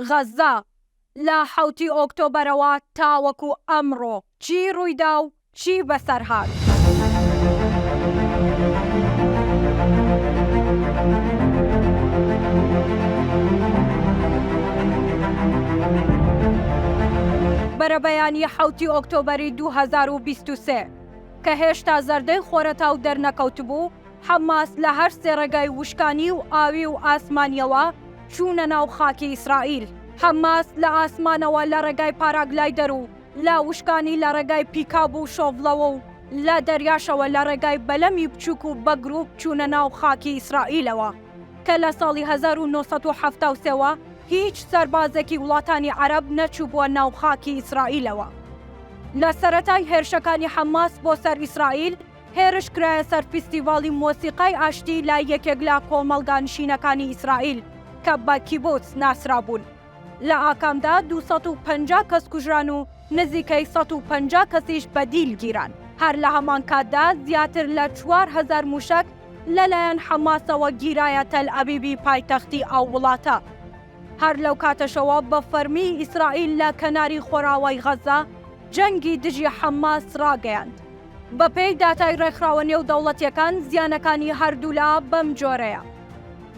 غەززە، لە حەوتی ئۆکتۆبەرەوە تاوەکو ئەمڕۆ چی ڕوویدا و چی بەسەرهات؟ بەرەبەیانی حەوتی ئۆکتۆبەری دوو هەزار و بیست و سێ، کە هێشتا زەردەی خۆرەتاو دەرنەکەوتبوو، حەماس لە هەر سێ ڕێگای وشکانی و ئاوی و ئاسمانییەوە چوونە ناو خاکی ئیسرائیل. حەماس لە ئاسمانەوە لە ڕێگای پاراگلایدەر و لە وشکانی لە ڕێگای پیکاب و شۆڤڵەوە و لە دەریاشەوە لە ڕێگای بەلەمی بچووک و بە گرووپ چوونە ناو خاکی ئیسرائیلەوە کە لە ساڵی هەزار و نۆ سەد و حەفتا و سێ وە هیچ سەربازێکی وڵاتانی عەرەب نەچووبووە ناو خاکی ئیسرائیلەوە. لە سەرەتای هێرشەکانی حەماس بۆ سەر ئیسرائیل، هێرش کرایە سەر فیستیڤاڵی مۆسیقای ئاشتی لە یەکێک لە کۆمەڵگا نشینەکانی ئیسرائیل کە بە کیبوتز ناسرابوون. لە ئاکامدا دوو سەد و پەنجا کەس کوژران و نزیکەی سەد و پەنجا کەسیش بە دیل گیران. هەر لە هەمان کاتدا زیاتر لە چوار هەزار مووشەک لەلایەن حەماسەوە گیرایە تەل ئەبیبی پایتەختی ئەو وڵاتە. هەر لەو کاتەشەوە بە فەرمی ئیسرائیل لە کەناری خۆراوای غەززە جەنگی دژی حەماس ڕاگەیاند. بەپێی داتای ڕێکخراوە نێودەوڵەتییەکان زیانەکانی هەردوولا بەم جۆرەیە،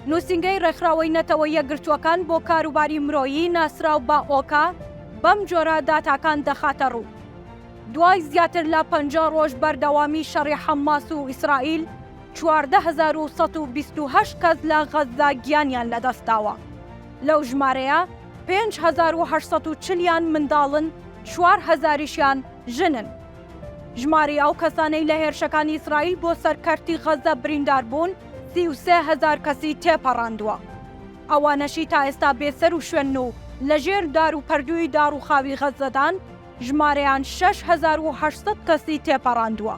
نووسینگەی ڕێکخراوەی نەتەوە یەکگرتووەکان بۆ کاروباری مرۆیی ناسراو بە ئۆکا بەم جۆرە داتاکان دەخاتە ڕوو، دوای زیاتر لە پەنجا ڕۆژ بەردەوامی شەڕی حەمماس و ئیسرائیل، چواردە هەزار و سەد و بیست و هەشت کەس لە غەززە گیانیان لەدەستداوە، لەو ژمارەیە پێنج هەزار و هەشت سەد و چل یان منداڵن، چوار هەزاریشیان ژنن. ژمارەی ئەو کەسانەی لە هێرشەکانی ئیسرائیل بۆ سەر کەرتی غەززە بریندار بوون سی و سێ هەزار کەسی تێپەڕاندووە، ئەوانەشی تا ئێستا بێ سەر و شوێنن و لە ژێر دار و پەردووی داڕووخاوی غەززەدان ژمارەیان شەش هەزار و هەشت سەد کەسی تێپەڕاندووە.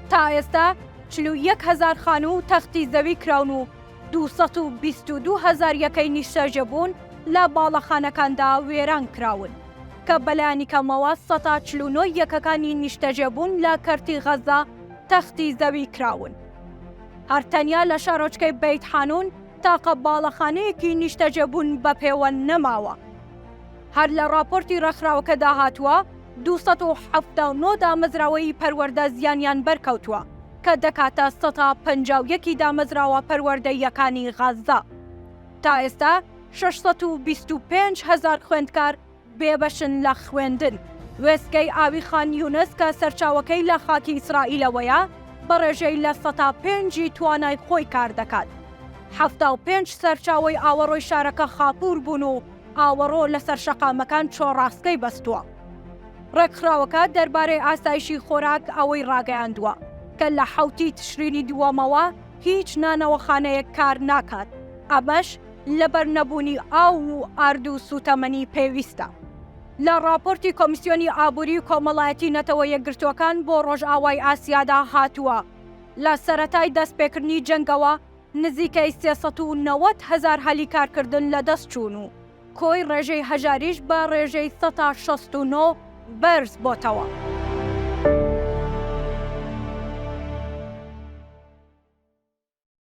تا ئێستا چل و یەک هەزار خانوو تەختی زەوی کراون و دوو سەد و بیست و دوو هەزار یەکەی نیشتەجێبوون لە باڵەخانەکاندا وێران کراون، کە بەلایەنی کەمەوە سەتا چل و نۆ یەکەکانی نیشتەجێبوون لە کەرتی غەززە تەختی زەوی کراون. هەر تەنیا لە شارۆچکەی بەیت حانوون تاقە باڵەخانەیەکی نیشتەجێبوون بەپێوە نەماوە. هەر لە ڕاپۆرتی ڕێکخراوەکەدا هاتووە، دوو سەد و حەفتا و نۆ دامەزراوەیی پەروەردە زیانیان بەرکەوتووە، کە دەکاتە سەتا پەنجا و یەک ی دامەزراوە پەروەردەییەکانی غەززە. تا ئێستا شەش سەد و بیست و پێنج هەزار خوێندکار بێبەشن لە خوێندن. وێستگەی ئاوی خان یونس کە سەرچاوەکەی لە خاکی ئیسرائیلەوەیە، بە ڕێژەی لە سەتا پێنج ی توانای خۆی کاردەکات. حەفتا و پێنج سەرچاوەی ئاوەڕۆی شارەکە خاپوور بوون و ئاوەڕۆ لەسەر شەقامەکان چۆڕاسکەی بەستووە. ڕێکخراوەکە دەربارەی ئاسایشی خۆراک ئەوەی ڕاگەیاندووە، کە لە حەوتی تشرینی دووەمەوە هیچ نانەوەخانەیەک کار ناکات، ئەمەش لەبەر نەبوونی ئاو و ئارد و سووتەمەنی پێویستە. لە ڕاپۆرتی کۆمیسیۆنی ئابووری و کۆمەڵایەتی نەتەوە یەکگرتووەکان بۆ ڕۆژئاوای ئاسیادا هاتووە، لە سەرەتای دەستپێکردنی جەنگەوە، نزیکەی سێ سەد و نەوەد هەزار هەلی کارکردن لەدەست چوون و کۆی ڕێژەی هەژاریش بە ڕێژەی سەتا شەست و نۆ بەرز بۆتەوە.